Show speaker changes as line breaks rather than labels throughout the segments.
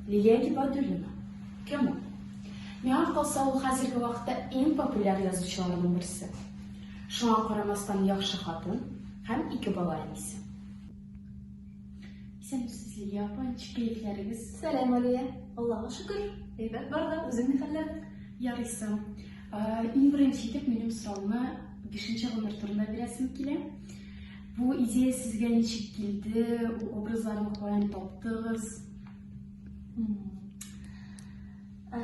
Лилия Гибадуллина. Кем ул? Миңа калса, ул хәзерге вакытта иң популяр язучыларның берсе. Шуңа карамастан яхшы хатын һәм ике бала әнисе. Исәнмесез, Лилия апа, ничек кәефләрегез? Сәлам, Алия.
Аллага шөкер, әйбәт бар да, үзең ни хәлләр? Ярыйсың.
Иң беренче итеп минем сорауны бишенче гомер турында бирәсем килә. Бу идея сезгә ничек килде? Бу образларны каян таптыгыз? Э,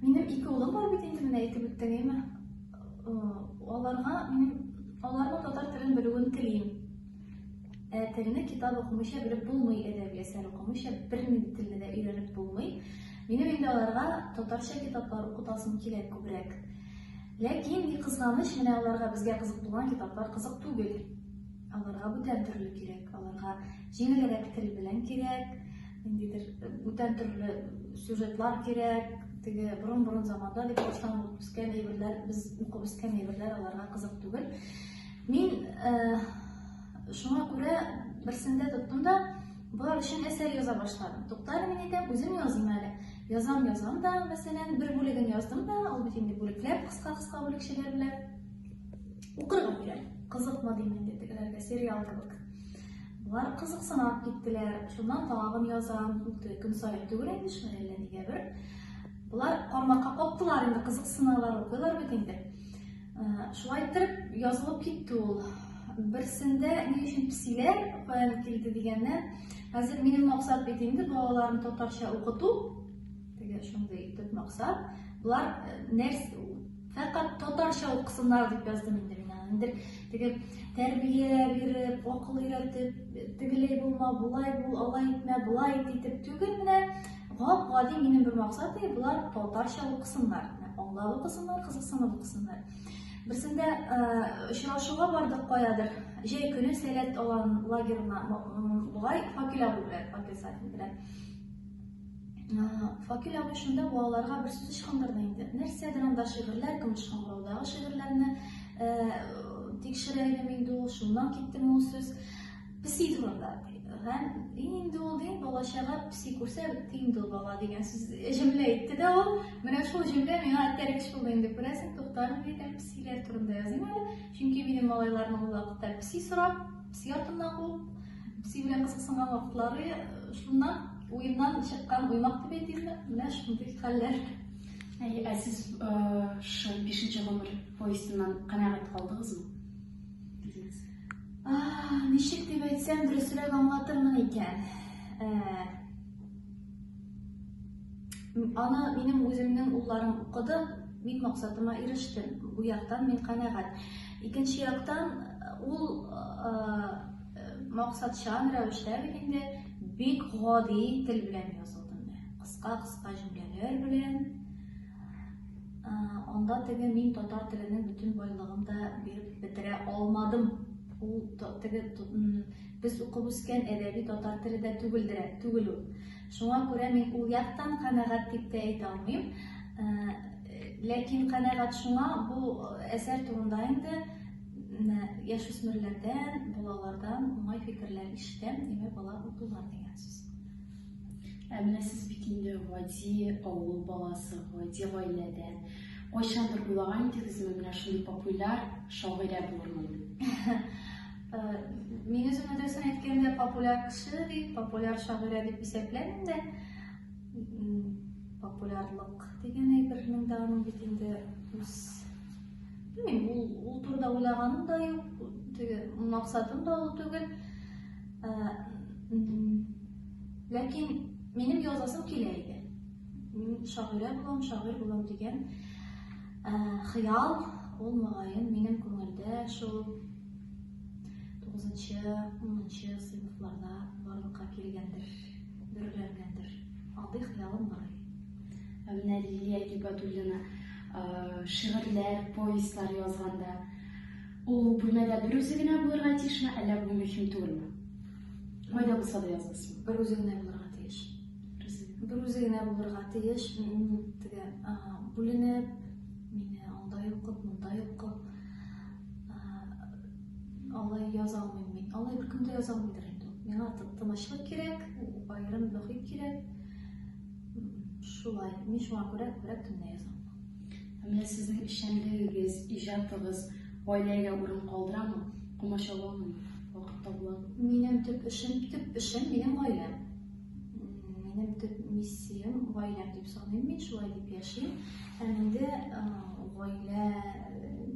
минем ике улым бар бит инде менә әйтеп үттегеме? Э, аларга мин аларның татар телен белүен телим. Ә э, телне китап укымыйча белеп булмый, әдәби әсәр укымыйча бернинди телне дә өйрәнеп булмый. Минем инде аларга татарча китаплар укытасым килә күбрәк. Ләкин, ни кызганыч, менә аларга безгә кызык булган китаплар кызык түгел. Аларга бүтән төрле кирәк, аларга җиңелрәк тел белән кирәк, ниндидер бүтән төрле сюжетлар кирәк, теге борын-борын заманда дип баштан укып үскән әйберләр, без укып үскән әйберләр аларга кызык түгел. Мин э, шуңа күрә берсендә тоттым да, Болар өчен әсәр яза башладым. Туктар мин итеп, үзем язым әле. Язам, язам да, мәсәлән, бер бүлеген яздым да, ул бит инде бүлекләп, кыска-кыска бүлекчәләр белән. Укырга бирәм. Кызыкмады инде тегеләргә сериал кебек. Болар кызыксынып киттеләр. Шуннан тагын язам. Үтте көн саен түгел инде шулай әллә нигә бер. Болар кармакка каптылар инде, кызыксыналар, укыйлар бит инде. Шулай итеп язылып китте ул. Берсендә ни өчен псиләр каян килде дигәннән, хәзер минем максат бит инде балаларны татарча укыту. Теге шундый төп максат. Болар нәрс фәкать татарча укысыннар дип яздым инде мин аны. Инде теге тәрбия биреп, акыл өйрәтеп, тегеләй булма, булай бул, алай итмә, булай ит итеп түгел менә Гап гади минем бер максат ди, болар татарча укысыннар, аңлап укысыннар, кызыксынып укысыннар. Берсендә очрашуга бардык каядыр, җәй көне сәләт алан лагерына, бугай факел абу белән, факел сатин белән. Факел абу шунда балаларга бер сүз ычкындырды инде. Нәрсәдер анда шигырьләр, көмеш шаңгыраудагы шигырьләрне тикшерә идем инде ул, шуннан китте ул сүз. Песи турында һәм дин инде ул дин балачага песи күрсә бетте инде ул бала дигән сүз җөмлә әйтте дә ул менә шул җөмлә миңа этәрик шул инде күрәсең туктарым диде песиләр турында языйм әле чөнки минем малайларым ул вакытта песи сорап песи артыннан куып песи белән кызыксынган вакытлары шуннан уеннан чыккан уймак дип әйтимме менә шундый хәлләр ә
сез шул бишенче гомер повестеннан канәгать калдыгызмы
Ничек дип әйтсәм, дөресрәк аңлатырмын икән. Аны минем үземнең улларым укыды, мин максатыма ирештем. Бу яктан мин канәгать. Икенче яктан ул максатчан рәвештә бит инде бик гади тел белән язылды. Кыска-кыска җөмләләр белән Анда теге мин татар теленең бөтен байлыгын да биреп бетерә алмадым. Ул теге без укып үскән әдәби татар теле дә түгелдер, түгел ул. Шуңа күрә мин ул яктан канәгать дип тә әйтә алмыйм. Ләкин канәгать шуңа бу әсәр турында инде яшүсмерләрдән, балалардан уңай фикерләр ишетәм, димәк, алар укыйлар дигән сүз. Ә
менә сез бит инде гади авыл баласы, гади гаиләдән. Кайчандыр уйлаган идегезме, менә шундый популяр шагыйрә булырмын дип?
Мин үземне дөресен әйткәндә популяр кеше дип, популяр шагыйрә дип исәпләмим дә. Популярлык дигән әйбернең дә аның бит инде үз Белмим, ул, ул турыда уйлаганым да юк, теге максатым да ул түгел. Ләкин минем язасым килә иде. Мин шагыйрә булам, шагыйрь булам дигән хыял ул мөгаен минем күңелдә шул 9-нчы, 10-нчы сыйныфларда барлыкка килгәндер, дөрләнгәндер. Алдый хыялым бар. Ә менә
Лилия Гибадуллина шигырьләр, повестьлар язганда Ул бүлмәдә бер үзе генә булырга тиешме, әллә бу мөһим түгелме? Кайда булса да язылсын. Бер үзе генә булырга
тиеш. Бер үзе генә булырга тиеш. Теге бүленеп, мине анда йоклап, монда йоклап. Алай яза алмыйм мин. Алай бер көндә яза алмыйдыр инде. Миңа тынычлык кирәк, аерым мөхит кирәк. Шулай. Мин шуңа күрә күбрәк төнлә язам. Менә
сезнең эшчәнлегегез, иҗатыгыз гаиләгә урын калдырамы? Комачауламы? Вакыт табыламы? Минем төп эшем,
төп эшем минем гаиләм. Минем төп миссиям гаиләм дип саныйм мин, шулай дип яшим. Һәм инде гаилә,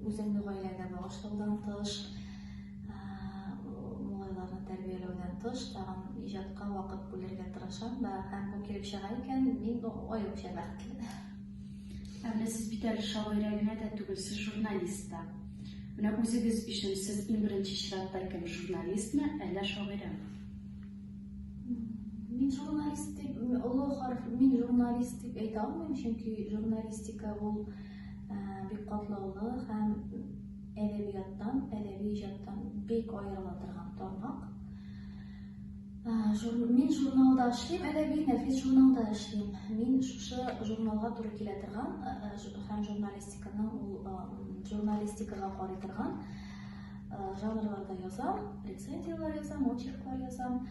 үземне гаиләгә багышлаудан тыш, малайларны тәрбияләүдән тыш, тагын иҗатка вакыт бүлергә тырышам да. Һәм бу килеп чыга икән, мин аеруча бәхетле. Ә
менә сез бит әле шагыйрә генә дә түгел, сез журналист та. Менә үзегез өчен сез иң беренче чиратта кем, журналистмы, әллә шагыйрәме?
Мин журналист дип, олы харф, мин журналист дип әйтә алмыйм, чөнки журналистика ул э, бик катлаулы һәм әдәбияттан, әдәби иҗаттан бик аерыла торган тармак. Мин журналда эшлим, әдәби нәфис журналда эшлим. Мин шушы журналга туры килә торган һәм журналистиканың ул журналистикага карый торган жанрларда язам, рецензияләр язам, очерклар язам.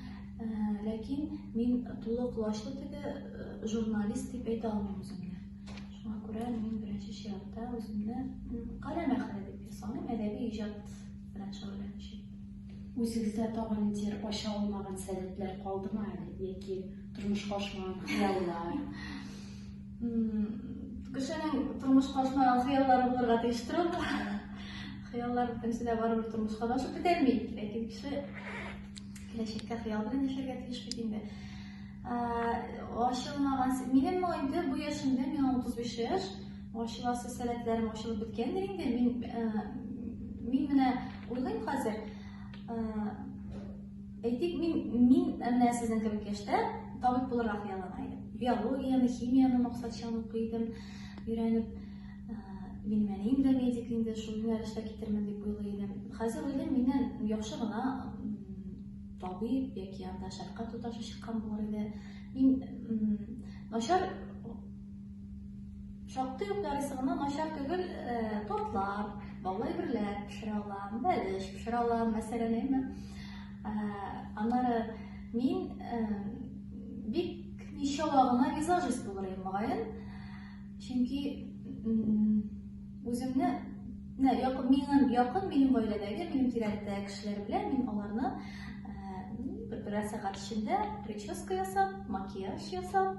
Ләкин мин тулы колачлы теге журналист дип әйтә алмыйм үземне. Шуңа күрә мин беренче чиратта үземне каләм әхәле дип саныйм, әдәби иҗат белән шөгыльләнүче. Үзегездә
тагын нидер ача алмаган сәләтләр калдымы әле? Яки тормышка ашмаган хыяллар?
Кешенең тормышка ашмаган хыяллары булырга тиеш торып. Хыяллар бөтенесе дә барыбер тормышка да ашып бетәлми. Ләкин кеше киләчәккә хыял белән яшәргә тиеш бит инде. Ачылмаган. Минем инде бу яшемдә, миңа 35 яшь. Ачыласы сәләтләрем ачылып беткәндер инде. Мин мин менә уйлыйм хәзер. Әйтик, мин мин менә сезнең кебек яшьтә табиб булырга хыяллана идем. Биологияне, химияне максатчан укый идем. Өйрәнеп мин менә инде медик инде шул юнәлештә китермен дип уйлый идем. Хәзер уйлыйм, миннән яхшы гына Табиб яки анда шәфкать туташы чыккан булыр иде. Мин начар шактый ук ярыйсы гына начар түгел э, тортлар, баулы әйберләр пешерә алам, бәлеш пешерә алам, мәсәлән, әйме. Э, аннары мин э, бик ничава гына визажист булыр идем, мөгаен. Чөнки үземне Менә якын минем якын минем гаиләдәге, минем тирәдә кешеләр белән мин аларны берәр сәгать эчендә прическа ясап, макияж ясап,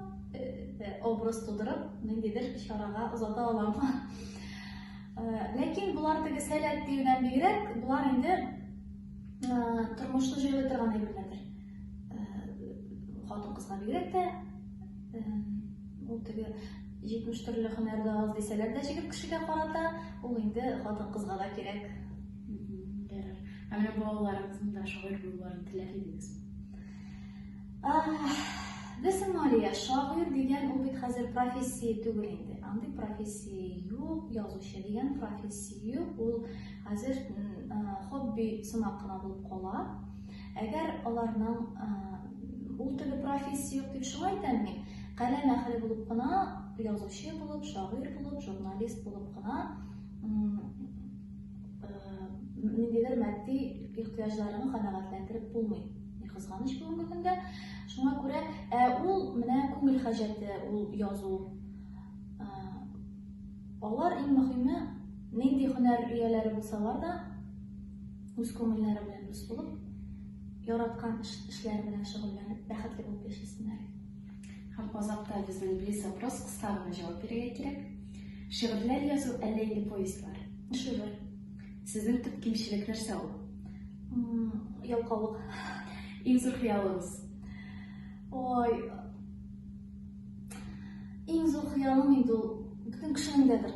образ тудырып, ниндидер чарага озата алам. Ләкин болар теге сәләт диюдән бигрәк, болар инде тормышны җайлый торган әйберләрдер. Хатын кызга бигрәк тә ул теге 70 төрле һөнәр дә аз дисәләр дә җегет кешегә карата ул инде хатын кызга да кирәк. Дәрер.
Ә менә балаларыгызның да шагыйрь булуларын теләр идегез.
Без Мария шагыйрь дигән ул бит хәзер профессия түгел инде. Андый профессия юк, язучы дигән профессия юк. Ул хәзер хобби сымак кына булып кала. Әгәр аларның ул теге профессия юк дип шулай әйтәм мин, каләм әһеле булып кына, язучы булып, шагыйрь булып, журналист булып кына ниндидер матди ихтыяҗларны канәгатьләндереп булмый. Ни кызганыч бүгенге көндә. Шуңа күрә ә ул менә күңел хаҗәте ул язу. Алар иң мөһиме нинди һөнәр ияләре булсалар да үз күңелләре белән дус булып, яраткан эшләре белән шөгыльләнеп, бәхетле булып яшәсеннәр. Һәм
азакта безнең близ вопрос кыска гына җавап бирергә кирәк. Шигырьләр язу әллә инде повестьлар? Шигырь.
Сезнең
төп кимчелек нәрсә ул?
Ялкаулык.
Иң зур хыялыгыз?
Ой. Иң зур хыялым инде ул бөтен кешенең дәдер.